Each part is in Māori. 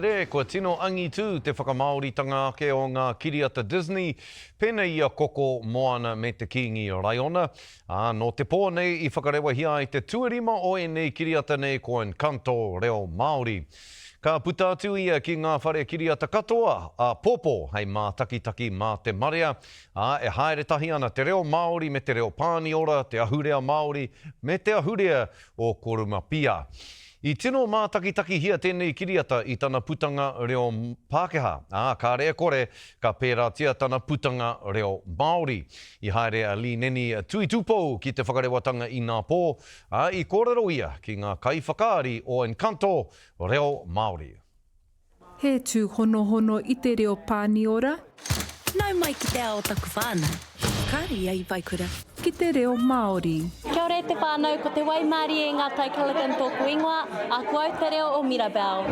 Nē, kua tino angitū te whakamāoritanga ake o ngā kiriata Disney, pēnei i a Koko, Moana me Te Kīngi Raiona, ā, nō te pō nei i whakarewahia ai te tuarima o ēnei kiriata nei ko Encanto reo Māori. Ka puta atu ia ki ngā whare kiriata katoa āpōpō hei mātakitaki mā te marea, ā, e haere tahi ana te reo Māori me te reo Pāniora, te ahurea Māori me te ahurea o Korumapia. I tino mātakitakihia tēnei kiriata i tana putanga reo Pākehā, ā, kāre e kore, ka pērātia tana putanga reo Māori. I haere a Lee Neni Tui Tupou ki te whakarewatanga i Nā Pō, ā, i kōrero ia ki ngā kaiwhakaari o Encanto Reo Māori. He tūhonohono i te reo Pāniora. Nau mai ki te ao taku whānau. Kāre ia i Paikura. Ki te reo Māori. Kia ora e te whānau, ko te waimarie ngā tai Callaghan tōku ingoa, a ko au te reo o Mirabelle.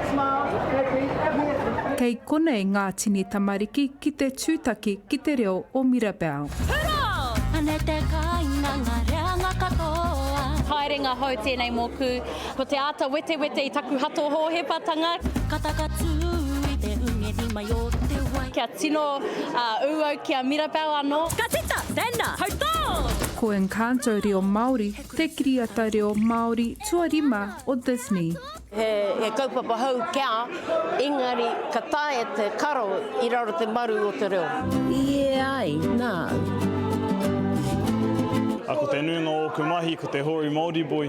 Kei konei ngā tini tamariki ki te tūtaki ki te reo o Mirabelle. Hurrā! Anei te kāinga ngā reanga katoa. Haerenga hou tēnei mōku. Ko te āta wetewete i taku hato hōhepatanga. Ka takatū i te hungeri mai o te wai. Kia tino ū au ki a Mirabelle anō. Ka tita! Tēnā! Hautō! Ko Encanto Reo Māori te kiriata reo Māori tuarima o Disney. He kaupapa hou kia, engari ka taea te karo i raro te maru o te reo. I e ai nāu. Ko te nuinga o ōku mahi ko te Hōri Māori Boy.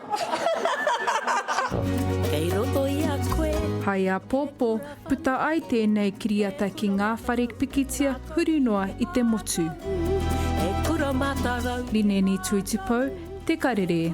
Kei roto i a koe. Hai apōpō, puta ai tēnei kiriata ki ngā whare pikitia huri noa i te motu. He kura mātārau. Lineni Tuitupou, Te Karere.